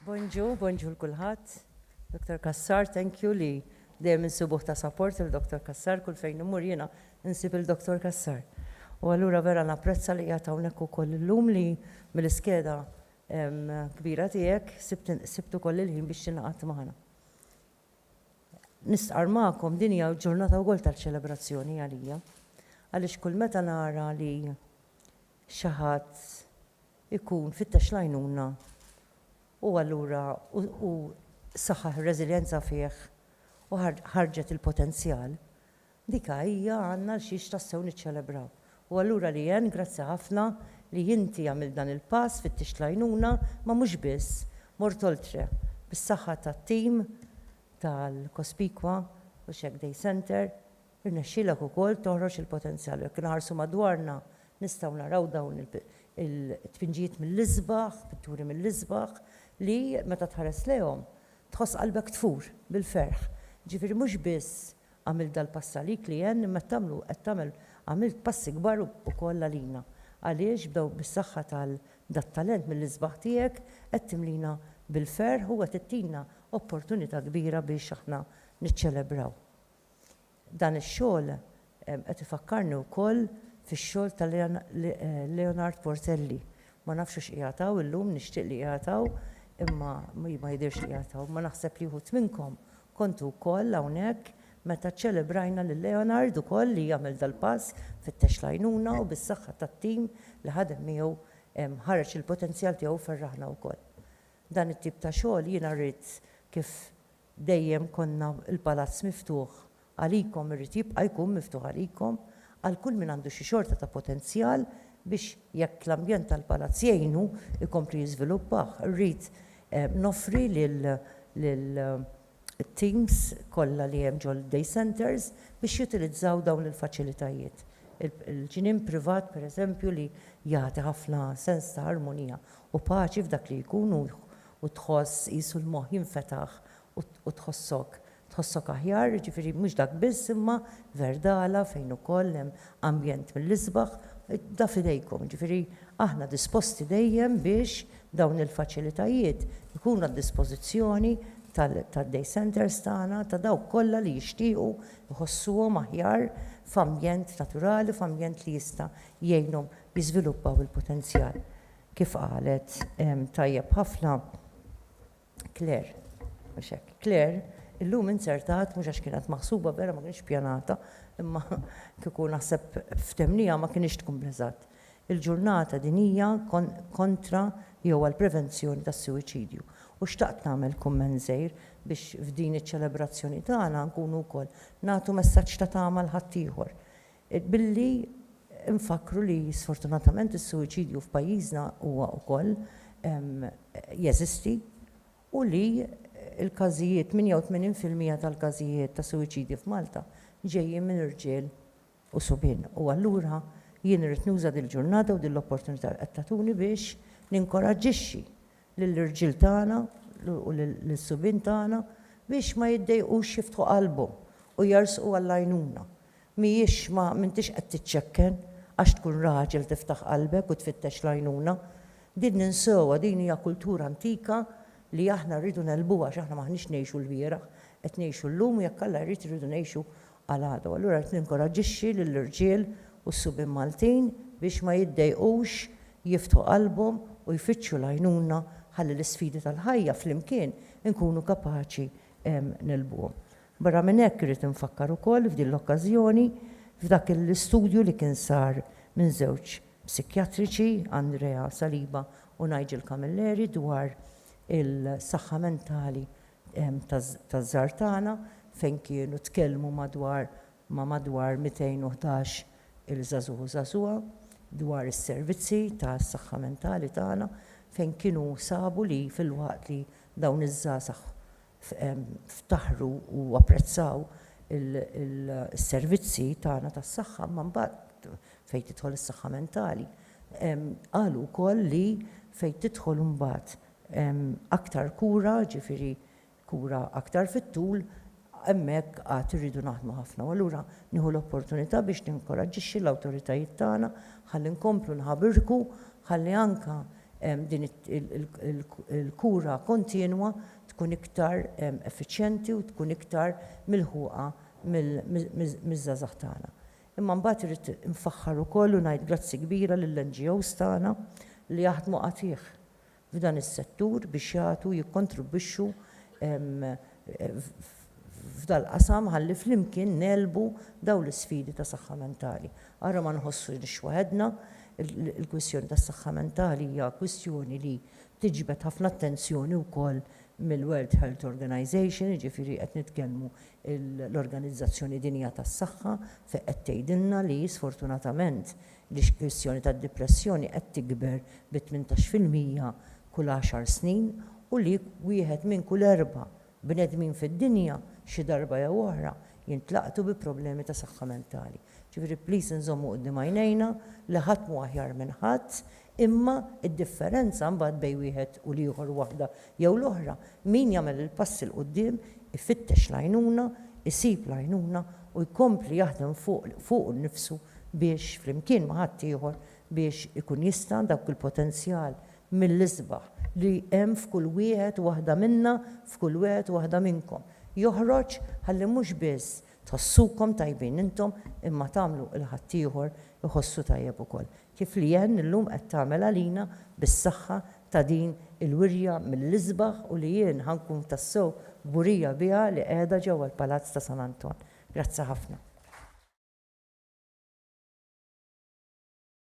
Bonġu, bonġu l-kulħadd. Dr. Kassar, thank you li dejjem insibuh ta' support il-Dr. Kassar kull fejn immur jiena insib il-Dr. Kassar. U allura vera napprezza li qiegħed hawnhekk ukoll illum li mill-iskeda kbira tiegħek sibt ukoll il-ħin biex tingħaqad magħna. Nistqarr magħkom, din hija ġurnata wkoll ta' ċelebrazzjoni għalija, għaliex kull meta nara li xi ħadd ikun fittex l-għajnuna u allura u saħħaħ ir-reżiljenza fih u ħarġet il-potenzjal, Dika hija għandna għal xiex tassew niċċelebraw. U allura Leanne, grazzi ħafna li inti għamilt dan il-pass, fittixt l-għajnuna, ma mhux biss, mort oltre, bis-saħħa tat-tim tal-Cospicua u Shack Day Centre, irnexxielek ukoll toħroġ il-potenzjal. U jekk inħarsu madwarna nistgħu naraw dawn il-tpinġijiet mill-isbaħ, pitturi mill-isbaħ, li meta tħares lejhom tħoss qalbek tfur bil-ferħ. Jiġifieri mhux biss Għamilt dal-pass għalik li għenni imma qed tagħmlu qed tagħmel għamilt passi kbar ukoll għalina għaliex b'daw bis-saħħa tal dat-talent mill-isbaħ tiegħek qed timlina bil-ferħ u qed ittina opportunità kbira biex aħna niċċelebraw dan ix-xogħol qed ifakkarni wkoll fix-xogħol ta' Leonard Portelli ma nafx hux qiegħed hawn illum nixtieq li qiegħed hawn imma ma jidhirx li qiegħed hawn imma naħseb li wħud minnkom Kontu wkoll hawnhekk meta ċċelebrajna lil Leonard ukoll li għamel dal-pass fittex l-għajnuna u bis-saħħa tat-tim li ħadem miegħu ħareġ il-potenzjal tiegħu u ferraħna wkoll. Dan it-tip ta' xogħol jiena rrid kif dejjem konna l-Palazz miftuħ għalikom irrid jibqa' jkun miftuħ għalikom għal kull min għandu xi xorta ta' potenzjal biex jekk l-ambjent tal-Palazz jgħinu jkompli jiżviluppah. Irrid Noffri lill-teams kollha li hemm ġol-day centres biex jutilizzaw dawn il-faċilitajiet. Il-ġnien privat, pereżempju, li jagħti ħafna sens ta' armonija u paċi f'dak li jkun u tħoss qisu l-moħħ jinfetaħ u tħossok Tħossok aħjar, jiġifieri mhux dak biss imma Verdala fejn ukoll hemm ambjent mill-isbaħ, da f'idejkom, jiġifieri aħna disposti dejjem biex dawn il-faċilitajiet ikunu għad-dispożizzjoni tad-day centres tagħna, ta' dawk kollha li jixtiequ jħossuhom aħjar f'ambjent naturali, f'ambjent li jista' jgħinhom jiżviluppaw il-potenzjal. Kif qalet tajjeb ħafna. Claire, Mhux hekk. Claire, Illum inzertat, mhux għax kienet maħsuba vera ma kinitx pjanata, imma kieku naħseb ftemniha ma kinitx tkun bl-eżatt. Il-ġurnata dinjija kontra jew għall-prevenzjoni tas-suwiċidju u xtaqt nagħmel kumment żgħir biex f'din iċ-ċelebrazzjoni tagħna nkunu wkoll nagħtu messaġġ ta' tama 'l ħaddieħor. Billi nfakkru li sfortunatament is-suwiċidju f'pajjiżna huwa wkoll jeżisti u li l-każijiet, 88 fil-mija tal-każijiet ta' suwiċidji f'Malta ġejjin minn irġiel u subien. U allura jien irrid nuża dil-ġurnata u din l-opportunità li qed tagħtuni biex ninkoraġġixxi lill-irġiel tagħna u lis-subien tagħna biex ma jiddejqux jiftħu qalbhom u jersqu għall-għajnuna. Mhijiex ma m'intix qed tiċċekken għax tkun raġel tiftaħ qalbek u tfittex l-għajnuna. Din ninsewha, din hija kultura antika li aħna rridu negħlbuha għax aħna m'aħniex ngħixu l-bieraħ, qed ngħixu llum u jekk Alla jrid irridu ngħixu għal għada. U allura rrid ninkoraġġixxi lill-irġiel u s-subien Maltin biex ma jiddejqux jiftħu qalbhom u jfittxu l-għajnuna ħalli l-isfidi tal-ħajja flimkien inkunu kapaċi negħlbuhom. Barra minn hekk irrid infakkar ukoll f'din l-okkażjoni f'dak l-istudju li kien sar minn żewġ psikjatriċi, Andrea Saliba u Nigel Camilleri dwar il-saħħa mentali taż-żgħar tagħna fejn kienu tkellmu madwar ma' madwar 211 il żagħżugħ u żagħżugħa dwar is-servizzi tas-saħħa mentali tagħna fejn kienu sabu li filwaqt li dawn iż-żgħażagħ ftaħru u apprezzaw is-servizzi tagħna tas-saħħa imma mbagħad fejn tidħol is-saħħa mentali qalu wkoll li fejn tidħol imbagħad aktar kura, jiġifieri kura aktar fit-tul, hemmhekk għad irridu naħdmu ħafna. U allura nieħu l-opportunità biex ninkoraġġixxi l-awtoritajiet tagħna ħalli nkomplu nħabirku ħalli anke din il-kura kontinwa tkun iktar effiċjenti u tkun iktar milħuqa miż-żgħażagħ tagħna. Imma mbagħad irrid infaħħar ukoll u ngħid grazzi kbira lill-NGOs tagħna li jaħdmu qatigħ f'dan is-settur biex jagħtu u jikkontribwixxu f'dal-qasam ħalli flimkien ngħelbu dawn l-isfidi ta' saħħa mentali. Ara ma nħossunix waħedna, il-kwistjoni tas-saħħa mentali hija kwistjoni li tiġbed ħafna attenzjoni wkoll mill-World Health Organization, jiġifieri qed nitkellmu l-Organizzazzjoni Dinjija tas-Saħħa fejn qed tgħidilna li sfortunatament l-kwistjoni tad-dipressjoni qed tikber bi tmintax fil-mija kull għaxar snin u li wieħed minn kull erba' Bnedmin fid-dinja xi darba jew oħra jintlaqtu bi problemi ta' saħħa mentali. Ġifieri please nżommu quddiem għajnejna li ħadd mhu aħjar minn ħadd, imma d-differenza mbagħad bejn wieħed u l-ieħor u waħda jew l-oħra, min jagħmel il-passi 'l quddiem, ifittex l-għajnuna, isib l-għajnuna u jkompli jaħdem fuq fuqu nnifsu biex, flimkien ma' ħaddieħor, biex ikun jista' dawk il-potenzjal mill-isbaħ li hemm f'kull wieħed waħda minna, f'kull wieħed waħda minnkom, joħroġ ħalli mhux biss tħossukom tajbin intom imma tagħmlu l-ħaddieħor iħossu tajjeb ukoll, kif Leanne illum qed tagħmel għalina bis-saħħa ta' din il-wirja mill-isbaħ u li jien ħa nkun tassew kburija biha li qiegħda ġewwa l-Palazz ta' San Anton. Grazzi ħafna.